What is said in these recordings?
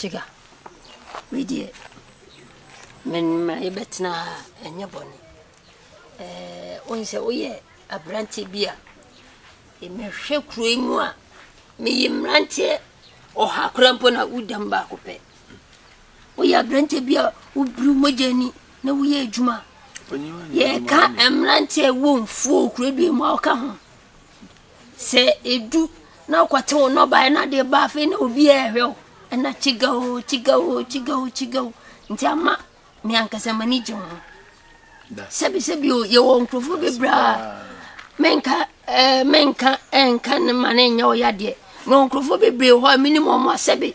Chiga, wei deɛ menma yɛbɛtena ha ɛnyɛ bɔne wohu sɛ woyɛ aberante bi a mehwɛ kuro yi mu a meyɛ mmeranteɛ ɔha kora mpo na wodam baako pɛ Woyɛ aberanteɛ bi a wobiriw mogya ani na woyɛ adwuma a, yɛka mmeranteɛ a ɛwɔ mfuo kurodua mu a wɔka ho. Sɛ edu na wokɔte wo nnɔbaeɛ na adeɛ ba afei na obi a ɛhwɛ wo ɛna kyiga o kyiga o kyiga o kyiga o nti ama me ankasa m'ani gye ho sɛbisɛbi o yɛwɔ nkurɔfoɔ bebree a menka ɛɛ menka ɛnka ne ma ne nyɛ ɔyadeɛ na nkurɔfoɔ bebree hɔ a menim wɔn asɛbe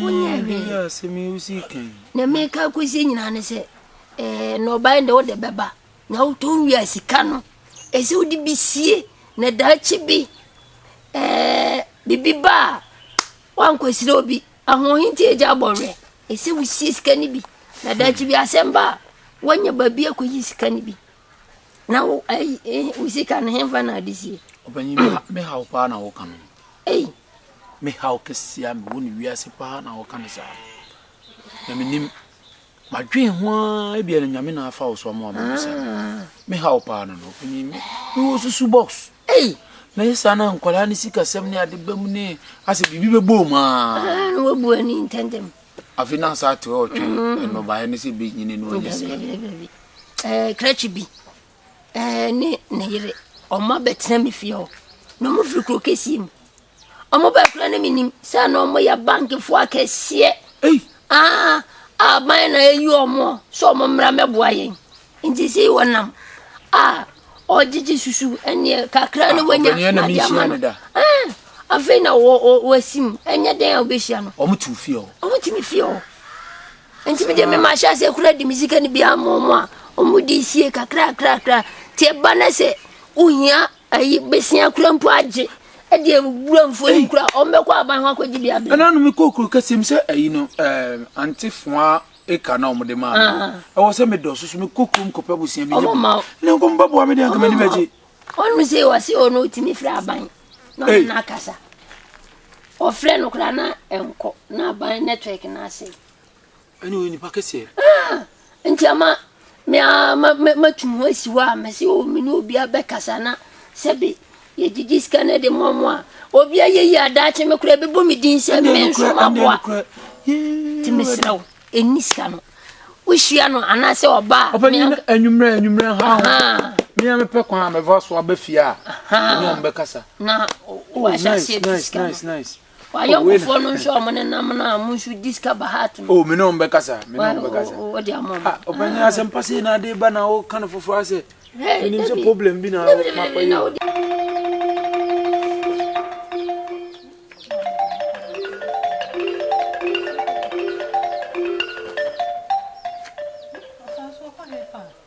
wonyɛ hwee na meka kɔsi nyinaa ne sɛ eh, nnɔbae de wode bɛba na wotɔn wie a sika no ɛsɛ wode bi sie na daakye bi eh, biribi ba a woankɔsrɛ obi ahoɔhe nti agya abɔwerɛ ɛsɛ wosie sika no bi na daakye bi asɛm ba a woanya baabi akɔyi sika no bi Na wo ayi eh, wo sika no hemfa na ade sie. Ɔpanyin me ha- me haw paa na wɔka no. Ei, Me haw kɛseɛ a mewɔ no wiase paa na wɔka no saa. Na menim madwen ho ara ebia no nyame na afa wo so ama wamabisa no. ah, Me haw paa no no ɔpanyin me mewɔ susu box. ei, Na yɛ saa na nkwadaa ne sikasɛm ne ade ba mu ne asɛ biribi bɛbɔ mu aa. ah, na wabu ani ntɛntɛm. Afe no asaate ɔtwe nnɔbaeɛ no sɛ bɛnyini no ɔnyɛ sɛ. Krakye bi ne ne yere ɔmo abɛtena me fie hɔ na ɔmo firi kuro kɛseɛ mu ɔmo bɛɛ kura ne menim sɛ na ɔmo yɛ bankefoɔ akɛseɛ aban na ɛyi ɔmo sɛ ɔmo mmra mɛboa yɛn Nti sei wɔnam a ɔgyegye susu ɛneɛ kakra ne wanya na de ama no ɛɛ afei na wɔasim ɛnyɛ dɛn a wobɛhyia no wɔn tu fie hɔ wɔn tumi fie hɔ nti mi de mi ma ahyɛ ase kura di mi sika ni bi ama wɔn a wɔn de sie kakra kakra kakra te ɛba na sɛ ohia ayi besia kura mpo agye ɛde ewura nfo yi kura wɔn bɛkɔ aban ho akɔgye bi abɛn. ɛna no mi kɔ okuro kɛse mi sɛ ɛyi no ɛɛ antefoa acre na wɔn de maa mi ɛwɔ sɛ mi dɔɔso so mi kɔ kurom kɔpɛ abusua mi nye mu ne nkɔm bɛ bua mi deɛ nkama ni bɛ gye. ɔno sɛ ɔsi ɔno otimi fira aban na ɔno na akasa ɔfrɛ no koraa na nkɔ na aban network na ase. ɛne ɔyɛ nipa kɛseɛ. Ah, nti ama Me ara ma ma matu ho asi hɔ a, mese o me ne obiara bɛkasa na sɛbe yɛgyegye sika no de mmoa mo a, obi ayɛ yi a daakye me koraa ɛbɛbɔ me din sɛ me nso maboa. Nti mesrɛ wo, ɛnni sika no. Wohyia no anaasɛ ɔba a. Ɔpɛ nyina anwummerɛ anwummerɛ ha ho. Me a mepɛ kwan a mɛfa so aba fie a. Ne ɔmbɛkasa. Na wahyɛ aseɛ tu sika no. Nice nice nice. W'ayɔnkofoɔ no nhwɛ wɔn nenam no a mo nso di sika ba hat no. O me ne wɔn bɛkasa me ne wɔn bɛkasa. O de ama wɔn. Ɔpanyin asɛm pa sei na ade ba na ɔka no foforɔ asɛ. Menim sɛ problem bi na makɔ yɛ.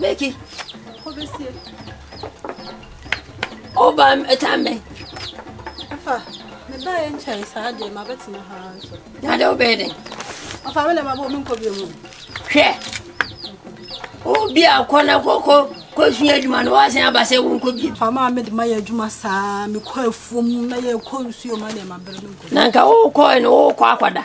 Meki. O ba tambe. Afa. Me ba en chai sa de ma betina ha nso. Na de obede. Afa me na ma bo me nko bi mu. Hwe. O bi akọ na koko ko sun adwuma no wa san abase wo nko bi. Fa ma me de ma ya adwuma sa me kọ afuom na ye kọ nsuo ma de ma bere me nko. Na nka wo kọ no wo kọ akwada.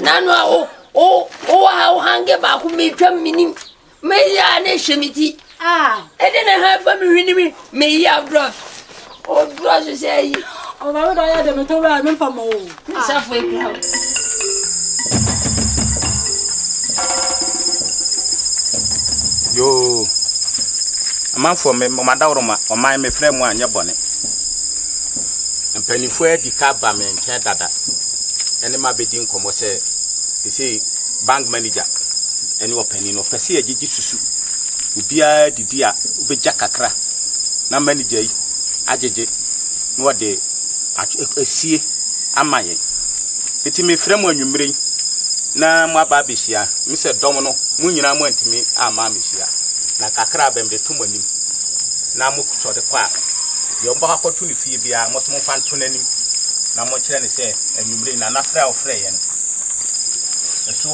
nanu a wo wo wowɔ ha wo hange baako metwam menim meyi a na ɛhyɛ me ti ɛde ne ha fa me hwene me meyi abrɔs ɔdurɔ so sɛ ayi ɔbɛwodɔ yɛ de metɔ wura memfa ma o mesafo akura wo yoo amanfoɔ madaworoma ɔman mefrɛ mu anyɛ bɔne mpanimfoɔ adi ka ba me nkyɛn dada ne me abɛdi nkɔmmɔ sɛ seesei bank manager ne ɔpanin no ɔpɛ sɛ yɛgyegye susu obiara didi a wobɛgya kakra na manager yi agyegye na ɔde asie ama yɛn. Enti mefrɛ mo anwummere yi na mo aba abɛhyia me sɛ dɔm no mo nyinaa mo antumi amma amehyia na kakra bɛm de to mo anim na mo sɔre kɔ a deɛ ɔmbɛkɔ akɔto ne fie biara mo nso momfa nto n'anim na monkyerɛ no sɛ anwummere yi na na frɛ a ɔfrɛeɛ no ɛso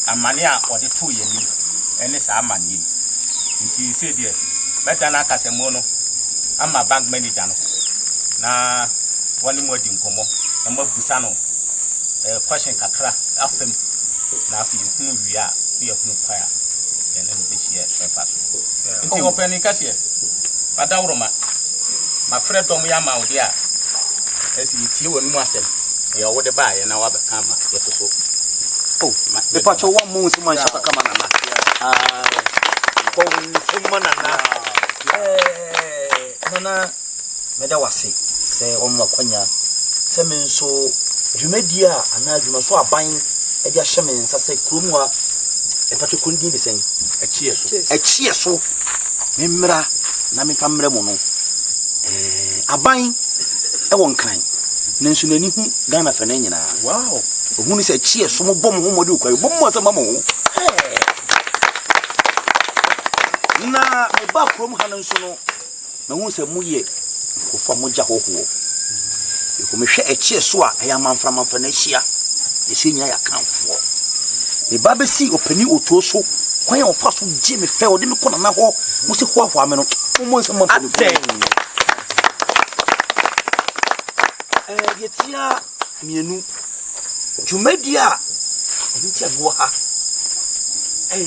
amanneɛ a ɔde too yɛn anim ne saa amanneɛ yi nti sei deɛ mɛdane akasamu no ama bank manager no na wɔne mo adi nkɔmmɔ na moabusa no eh, question kakra afa mu na afei yɛhunu wie a ne yɛhunu kwan a yɛne no bɛhyia ɛfa so nti ɔpɛni kɛseɛ adaworoma Mafrɛ dɔm yi ama wo de a, ɛsɛ yɛtie w'anom asɛm, deɛ wode baeɛ na woabɛka ama yɛso so. Oh, ma, mepatwɛ wo ammɔ wo nsɛm anhyɛ kaka ma nana. Bɔ wo nsɛm ma nana. Nana, meda wo ase sɛ wɔn akwanya sɛ me nso dwumadie a anaa adwuma so aban de ahyɛ me nsa sɛ kurom a ɛpatwɛ kɔndin de sɛn? Ɛkyeɛ so. Ɛkyeɛ so. Me mmra na mefa mmrɛ mo no. Eh, aban ɛwɔ nkran nanso n'ani hu Ghana fɛ no nyinaa. Wow. Ohun sɛ kyi ɛso mo bɔ mo ho mmɔden okura bɔ mo asɛm ama mo. Eh. Na meba kurom ha no nso no, mahun sɛ mo yɛ Nkurɔfoɔ mogya hɔhoɔ. Yɛkɔ mehwɛ ɛkyeɛ so a ɛyɛ amanfra amanfra na ahyia. Yɛsɛ nyina yɛ akanfoɔ. Me ba bɛsi ɔpani otuo so kwan a ɔfa so gye me fɛ ɔde me kɔ nana hɔ mo sɛ hoahoa me no mommɔ nsɛm mpanimfoɔ. Deɛ tia mmienu dwumadie a ɛno nti a mewɔ ha ɛyɛ